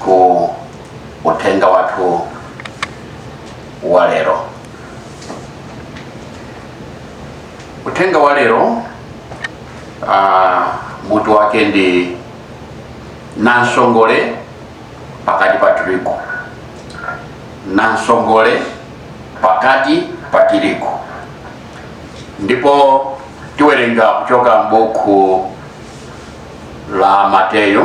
ku uthenga wathu wa lero uthenga wa lero uh, mutu wake ndi namsongole pakati pa tirigu namsongole pakati pa tirigu ndipo tiwerenga kuchoka m'buku la mateyu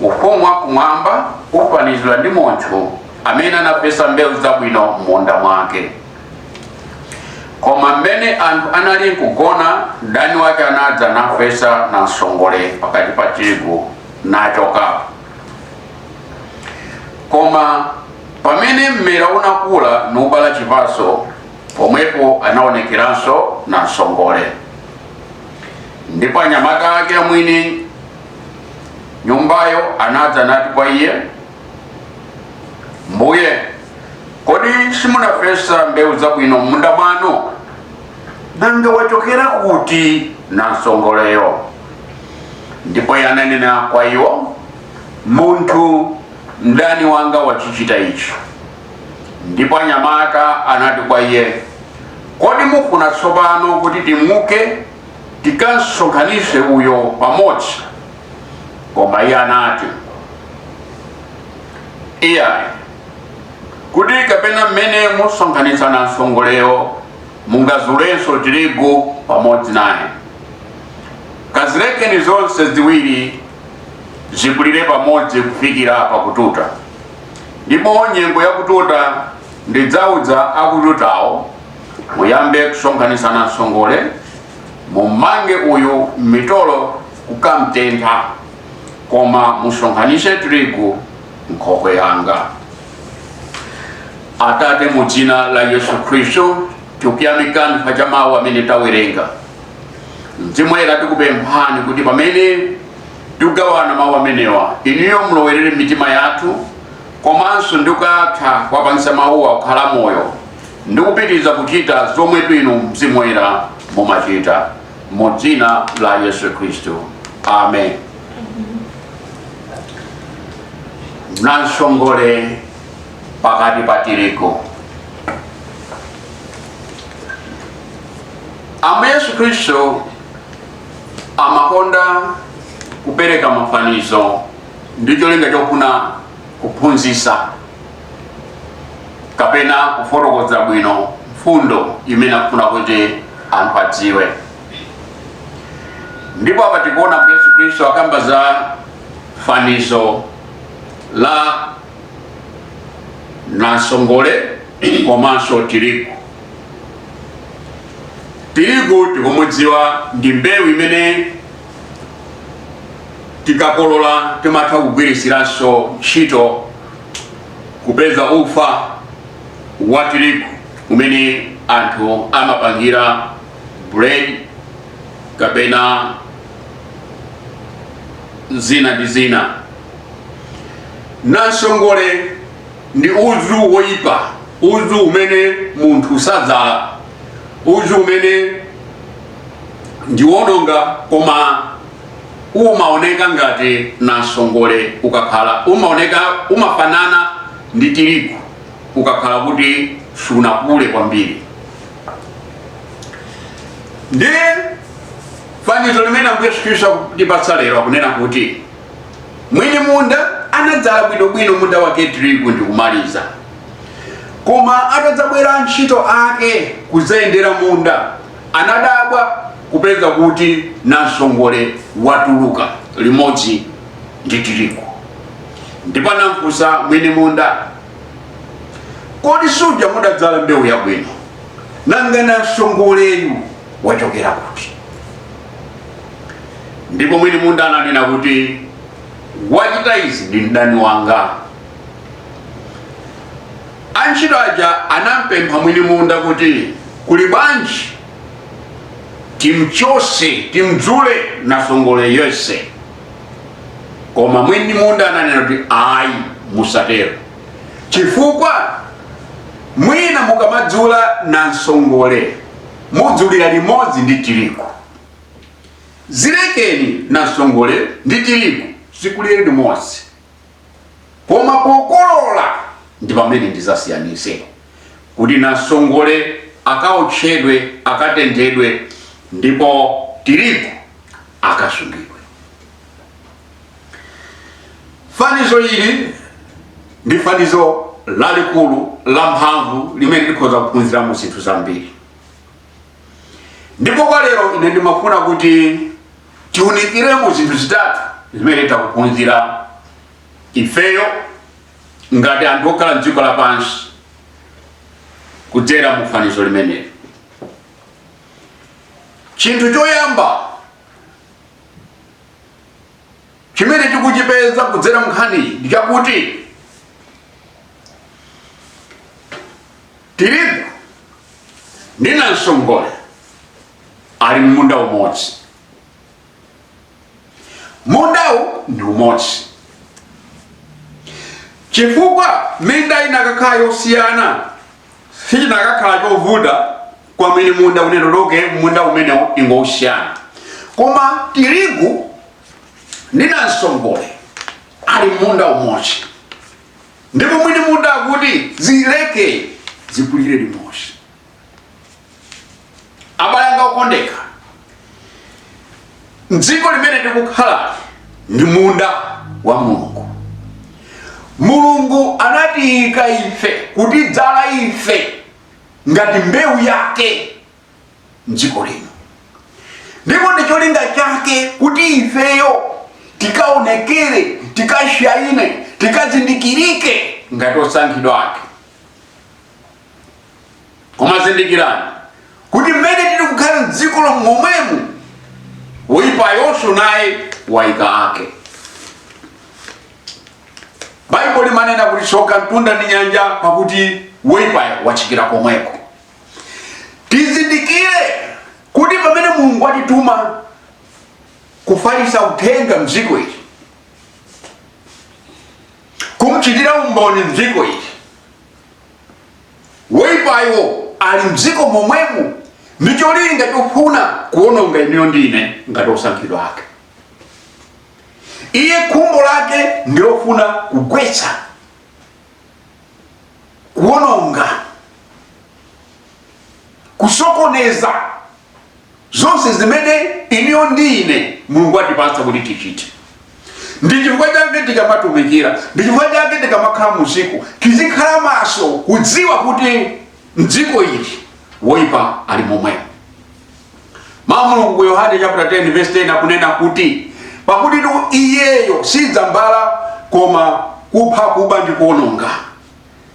Ufumu wa kumwamba ufanizidwa ndi munthu amene anafesa mbewu zabwino m'munda mwake. Koma mmene anthu anali nkugona, mdani wake anadza nafesa namsongole pakati pa tirigu nachoka. Koma pamene mmera unakula nubala chipatso, pomwepo anaonekeranso namsongole. Ndipo anyamata ake amwini nyumbayo anadza nati kwa iye mbuye kodi simunafesa mbewu zabwino m'munda mwanu nanga wachokera kuti namsongoleyo ndipo iye ananena kwa iwo munthu mdani wanga wachichita ichi ndipo anyamata anati kwa iye kodi mufuna tsopano kuti timuke tikamsonkhanitse uyo pamodzi koma iye anati iyayi kuti kapena mmene musonkhanitsa namsongoleyo mungazulenso tirigu pamodzi naye kazilekeni zonse ziwiri zikulire pamodzi kufikira pakututa ndipo nyengo yakututa ndidzauza akututawo muyambe kusonkhanitsa namsongole mummange uyu m'mitolo kukamtentha koma musonkhanitse tirigu m'nkhokwe yanga atate mu dzina la yesu khristu tikuyamikani chifukwa cha mawu amene tawerenga mzimu woyera tikupemphani kuti pamene tikugawana mawu amenewa inuyo mulowerere mitima yathu komanso ndi kutha kuwapangitsa mawuwa kukhala moyo ndi kupitiriza kuchita zomwetu inu mzimu woyera mumachita mu dzina la yesu khristu amen namsongole pakati pa tirigu ambuye yesu khristu amakonda kupereka mafanizo ndi cholinga chofuna kuphunzitsa kapena kufotokoza bwino mfundo imene akufuna kuti anthu adziwe ndipo apa tikuona kuti yesu khristu akamba za fanizo la namsongole komanso tirigu tirigu tikumudziwa ndi mbewu imene tikakolola timatha kugwiritsiranso ntchito kupeza ufa wa tirigu umene anthu amapangira bread kapena zina ndi zina nansongole ndi udzu woyipa udzu umene munthu sadzala udzu umene ndiwononga koma umaoneka ngati nansongole ukakhala umaoneka umafanana ndi tirigu ukakhala kuti sunakule kwambiri ndi fanizo limene ambuye yesu khristu akutipatsa lero akunena kuti mwini munda anadzala bwinobwino munda wake tirigu ndi kumaliza koma atadzabwera antchito ake kudzayendera munda Anadabwa kupeza kuti nansongole watuluka limodzi ndi tirigu ndipo anamfunsa mwini munda, Kodi suja mudadzala mbewu yabwino? Nanga nansongoleyu wachokera kuti? Ndipo mwini munda ananena kuti, Wachita izi ndi mdani wanga. Antchito aja anampempha mwini munda kuti, Kuli bwanji timchose, timdzule nansongole yense? Koma mwini munda ananena kuti, Ayi, musatero, chifukwa mwina mukamadzula nansongole mudzulira limodzi ndi tirigu. Zilekeni nansongole ndi tirigu zikulire limodzi. koma pokolola ndi pamene ndizasiyanise kuti nansongole akaotchedwe, akatenthedwe ndipo tirigu akasungidwe. Fanizo ili ndi fanizo lalikulu, lamphamvu limene tikhoza kuphunziramo zinthu zambiri. ndipo kwa lero ine ndimafuna kuti tiunikiremo zinthu zitatu zimene tikuphunzira ifeyo ngati anthu okhala mdziko lapansi kudzera mu fanizo limeneli chinthu choyamba chimene tikuchipeza kudzera mnkhaniyi ndi chakuti Tirigu ndi namsongole ali m'munda umodzi. Mundawu ndi umodzi chifukwa minda inakakhala yosiyana sichinakakhala chovuta kwa mwini munda kunena kuti munda umenewo ingosiyana koma tirigu ndi namsongole ali m'munda umodzi ndipo mwini munda akuti zileke zikulire limodzi abale anga okondeka mdziko limene tikukhala ndi munda wa mulungu mulungu anatiyika ife kutidzala ife ngati mbewu yake mdziko lino ndipo ndi cholinga chake kuti ifeyo tikaonekere tikashaine tikazindikirike ngati osankhidwa ake koma zindikirani kuti mmene tili kukhala mdziko momwemu woyipayonso naye wayika ake baibulo limanena kuti tsoka mtunda ndi nyanja pakuti woyipayo watsikira komweko tizindikire kuti pamene mulungu watituma kufalisa uthenga mdziko ili kumchitira umboni mdziko ili woipayo ali mdziko momwemo ndi cholinga chofuna kuononga inuyo ndi ine ngati osankhidwa ake iye khumbo lake ndilofuna kugwetsa kuwononga kusokoneza zonse zimene inuyo ndi ine mulungu atipatsa kuti tichite ndi chifukwa chake tikamatumikira ndi chifukwa chake tikamakhala mdziko tizikhala maso kudziwa kuti mdziko ili woipa ali momwemo Mawu a Mulungu ku Yohane chapter 10 verse 10 akunena kuti pakutitu iyeyo sidza mbala koma kupha kuba ndi kuononga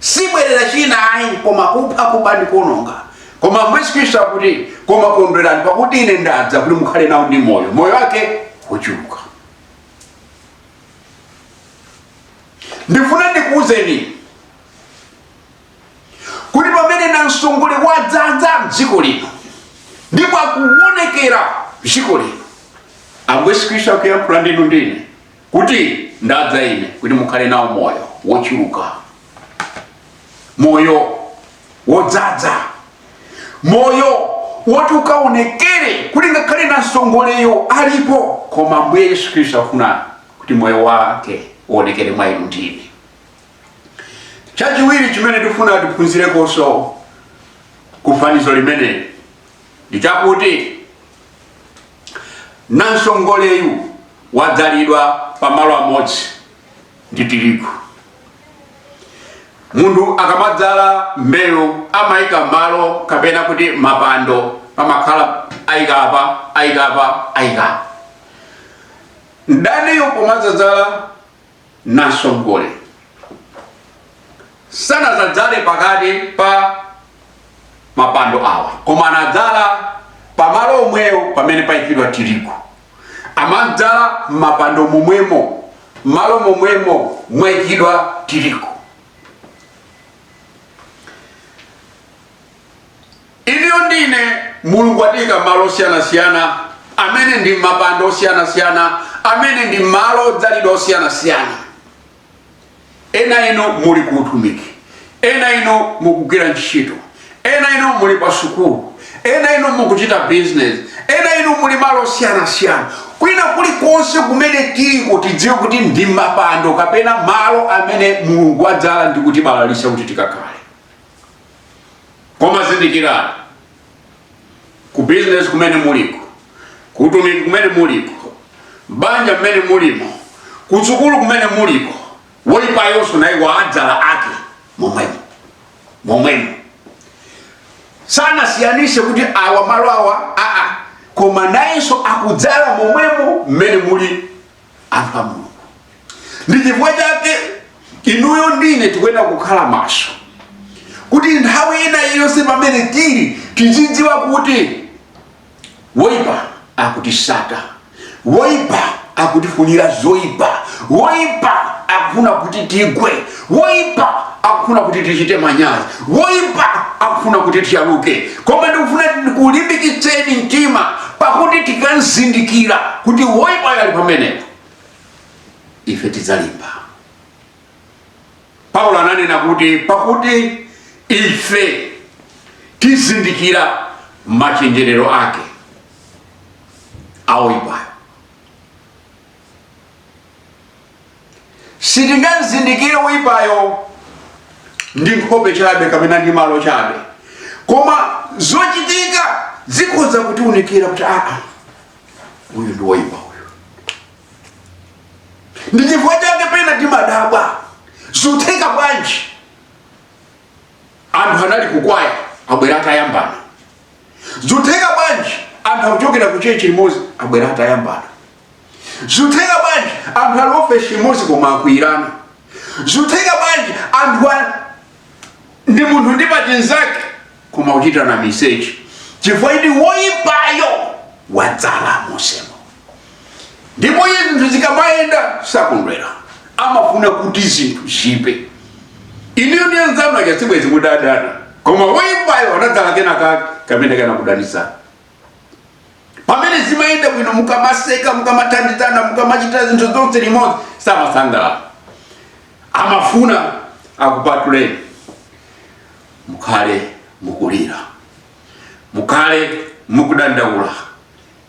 sibwerera china ayi koma kupha kuba ndi kuononga koma ambuye yesu khristu akuti koma kondwerani pakuti ine ndadza kuti mukhale nawo ndi moyo moyo wake wochuluka ndifuna ndikuwuzeni kuti pamene namsongole wadzadza mdziko lino ndipo akuwonekera mdziko lino ambuye yesu khristu akuyankhula ndi inu ndi ine kuti ndadza ine kuti mukhale nawo moyo wochuluka moyo wodzadza moyo woti ukaonekere kuti ngakhale nansongoleyo alipo koma ambuye yesu khristu afuna kuti moyo wake uonekere mwa inu ndi ine chachiwiri chimene tifuna tiphunzirekonso ku fanizo limeneli ndi chakuti namsongoleyu wadzalidwa pamalo amodzi ndi tirigu munthu akamadzala mbewu amayika malo kapena kuti mapando pamakhala ayikapa ayikapa ayikapa mdaniyo pomadzadzala namsongole sanazadzale pakati pa mapando awa koma anadzala pamalo omwewo pamene payikidwa tirigu amadzala mapando momwemo malo momwemo mwayikidwa tirigu Inuyo ndi ine, Mulungu watiika malo osiyanasiyana, amene ndi mapando osiyanasiyana, amene ndi malo odzalidwa osiyanasiyana. Ena inu muli ku utumiki, ena inu mukugwira ntchito, ena inu muli pa sukulu, ena inu mukuchita bizinesi, ena inu muli malo osiyanasiyana. Kwina kulikonse kumene tiliko, tidziwe kuti ndi mapando kapena malo amene Mulungu wadzala ndi kutibalalitsa kuti tikakhale. koma zindikirani ku business kumene muliko ku utumiki kumene muliko banja mmene mulimo kusukulu kumene muliko woyipayonso naye wadzala ake momwemo momwemo sanasiyanise kuti awa malo awa aa koma nayenso akudzala momwemo mmene muli anthu a mulungu ndi chifukwa chake inuyo ndi ine tikuyenera kukhala maso kuti nthawi ina yonse pamene tili tizidziwa kuti woipa akutitsata woipa akutifunira zoipa woipa akufuna kuti tigwe woipa akufuna kuti tichite manyazi woipa akufuna kuti tiyaluke koma ndikufuna ndikulimbikitseni mtima pakuti tikazindikira kuti woipayo ali pamenepo ife tidzalimba paulo ananena kuti pakuti ife tizindikira machenjerero ake a woipayo sitingamuzindikire woyipayo ndi nkhope chabe kapena ndi malo chabe koma zochitika zikhoza kutiunikira kuti aa uyu ndi woyipa uyu ndi chifukwa chake pena timadabwa zutheka bwanji anthu anali kukwaya abwera atayambana zutheka bwanji anthu akuchokera ku chechi limodzi abwera atayambana Zutheka bwanji anthu ali ofesi imodzi koma akwiyirana? Zutheka bwanji anthu a- ndi munthu ndi pachinzake koma kuchitana miseche chifukwa choti woyipayo wadzala mosemo ndipo iye zinthu zikamayenda sakondwera amafuna kuti zinthu ziyipe inuyo ndi anzanu aja sibwezi mudadana koma woyipayo anadzala kena kake kamene kanakudanisa pamene zimayenda bwino mukamaseka mukamathandizana mukamachita zinthu zonse limodzi samasangalala amafuna akupatuleni mukhale mukulira mukhale mukudandaula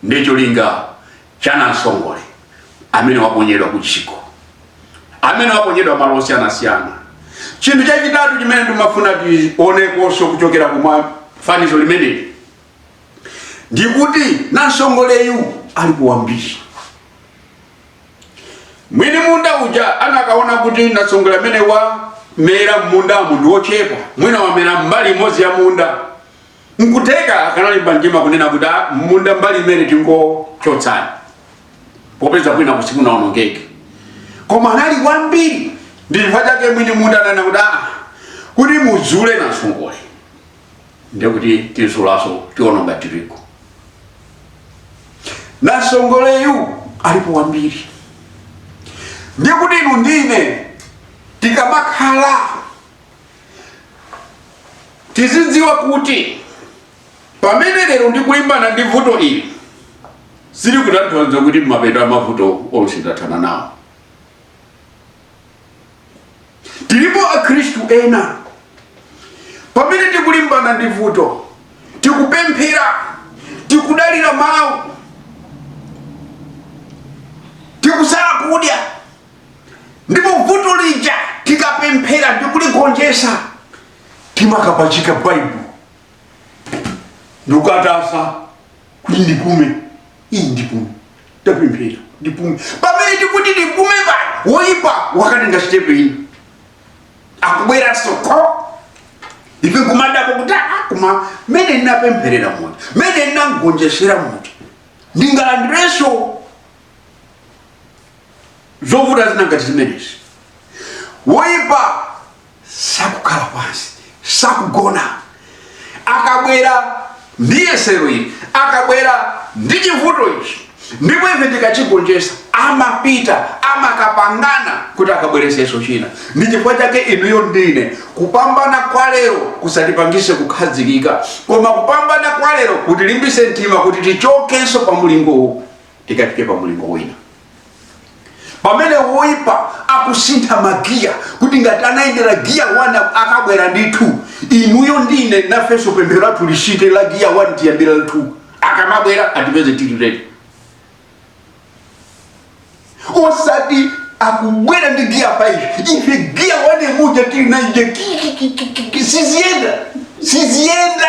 ndi cholinga cha namsongole amene waponyedwa ku tchalitchi amene waponyedwa malo osiyanasiyana chinthu chachitatu chimene ndimafuna tionenso kuchokera mu fanizo limeneli ndikuti nansongoleyu alipo wambiri mwini munda uja anakaona kuti nansongole amene wamera mmundamu ndi wochepa mwina wamera mbali imodzi ya munda nkutheka akanalimba mtima kunena kuti "Ah, munda mbali imeneyi tingochotsa popeza kwina kuseku sikunaonongeke koma anali wambiri ndi chifukwa chake mwini munda ananena kuti "Ah, kuti tizule nansongole ndiye kuti tizulanso tiononga tirigu nansongoleyu alipo wambiri ndiye kuti inu ndine tikamakhala tidzidziwa kuti pamene lero ndikulimbana ndi vuto ili sili kutanthauza kuti mapeto a mavuto onse ndathana nawo tilipo akhristu ena pamene tikulimbana ndi vuto tikupemphera tikudalira mawu tikusala kudya ndipo vuto lija tikapemphera ndikuligonjesa timakapachika baibulo ndikukataya kuti ndipume ayi ndipume tapemphera ndipume pamene tikuti ndipume woyipa wakatenga sitepe ina akubweranso kwa ife kumadabwa kuti "Ah, koma mene ndinapempherera munthu mene ndinamgonjetsera munthu ndingalandirenso zovuta zina ngati zimenezi woyipa sakukhala pansi sakugona akabwera ndi yesero ili akabwera ndi chivuto ichi ndipo ife tikachigonjesa amapita amakapangana kuti akabwereseso china ndi chifukwa chake inuyo ndi ine kupambana kwa lero kusatipangise kukhazikika koma kupambana kwa lero kutilimbise mtima kuti tichokenso pa mulingo uwu tikafike pa mulingo wina pamene woipa akusintha magiya kuti ngati anayendera giya 1 akabwera ndi 2 inuyo ndi ine nafenso pemphero lathu lisinthe la giya 1 tiyambira 2 akamabwera atipeze tili ready osati akubwera ndi giya 5 ife giya 1 muja tili nayeje siziyenda siziyenda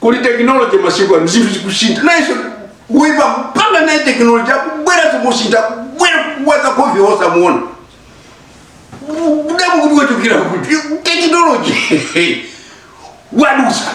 kuli tekinoloji masiku ano zinthu zikusintha nayenso woipa kupanga naye tekinoloji akubwera zikusintha kubwera kuwaza kovi osamuona kudabwa kuti wachokera kuti tekinoloji wadusa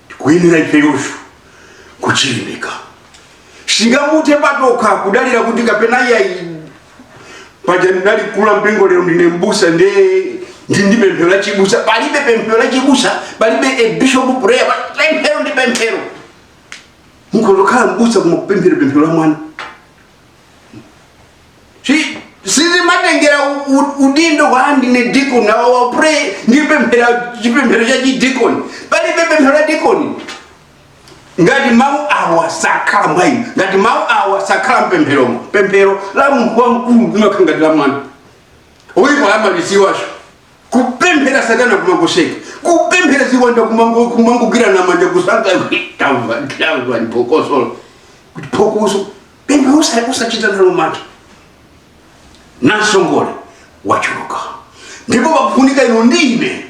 tikuyenera ifeyonso kuchilimika sitingathe patokha kudalira kuti kapena iyayi paja ndinali mkulu wa mpingo lero ndine mbusa ndi ndi ndi pemphero la chibusa palibe pemphero la chibusa palibe bishop prayer pa- pemphero ndi pemphero mukhoza kukhala mbusa koma kupemphera pemphero la mwana Si- sizimatengera u- u- udindo wa ndine dikoni awa ndipemphera chipemphero cha chidikoni palibe pemphero la dikoni ngati mawu awa sakhala mwa inu ngati mawu awa sakhala mpempheromo pemphero la munthu wamkulu limakhala ngati la mwana oyipa amaliziwacho kupemphera satana kumangoseka kupemphera ziwanda kumango- kumangogwirana manja kusangalala tamva tamva ndi phokoso kuti phokoso pempha usa- usachita nalo mantha namsongole wachuluka ndipo pakufunika inu ndi ine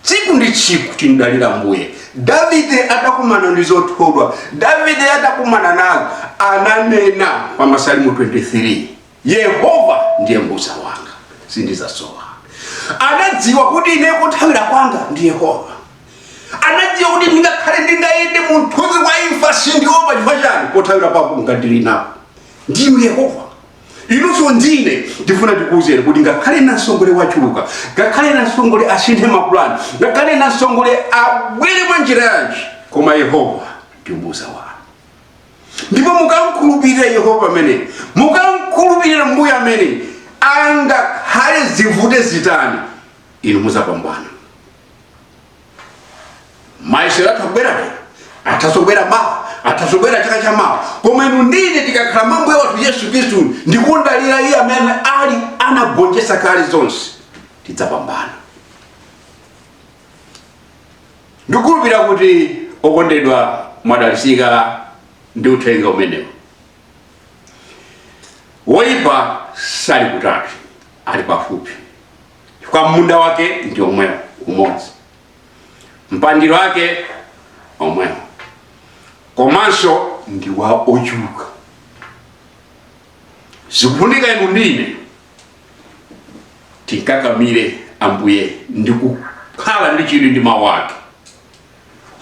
tsiku ndi tsiku timdalire mbuye davide atakumana ndi zothodwa davide atakumana nazo ananena pa masalimo 23 Yehova ndiye mbusa wanga, sindizasowa. Anadziwa kuti ine kothawira kwanga ndi Yehova. Anadziwa kuti tingakhale ndingayende mu mthunzi wa imfa sindiopa chifukwa chani pothawira pako ngati ndili napo ndi Yehova. Inunso ndine ndifuna tikuwuzeni kuti ngakhale nasongole wachuluka, ngakhale nasongole asinthe mapulani, ngakhale nasongole abwere mwa njira yanji, koma Yehova ndi mbusa wanga. ndipo mukamkhulupirira yehova amene mukamkhulupirira mbuye amene angakhale zivute zitani inu muzapambana mayesero atha kubwera lero atha kubwera mawa atha kubwera chaka cha mawa koma inu ndine tikakhala mambuye wathu yesu khristu ndikudalira iye amene ali anagonjetsa kale zonse tidzapambana ndikukhulupirira kuti okondedwa mwadalisika ndi uthenga umenewo woyipa sali kutali ali pafupi chifukwa munda wake ndi omwewo umodzi mpandiro wake omwewo komanso ndi wa ochuluka zikufunika inu ndine timkakamire ambuye ndi kukhala ndi chidwi ndi mawu ake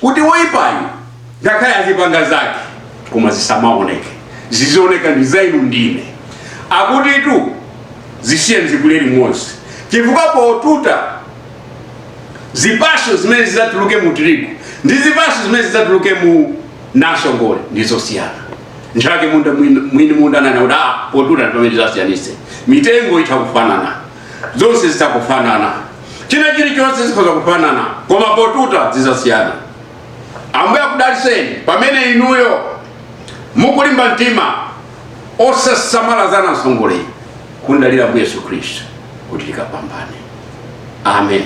kuti woyipayo ngakhale azipanga zake koma zisamaoneke zizioneka ndi za inu ndine akutitu zisiye zikule limodzi chifukwa potuta zipatso zimene zidzatuluke mu tirigu ndi zipatso zimene zidzatuluke mu namsongole ndi zosiyana nchake munda mwini mwini munda ananena kuti ah potuta ndi pamene tidzasiyanitse mitengo itha kufanana zonse zitha kufanana china chilichonse zikhoza kufanana koma potuta zidzasiyana ambuye akudaliseni pamene inuyo mukulimba mtima osasamala za namsongole kumdalira mbuye yesu khristu kuti tikapambane amen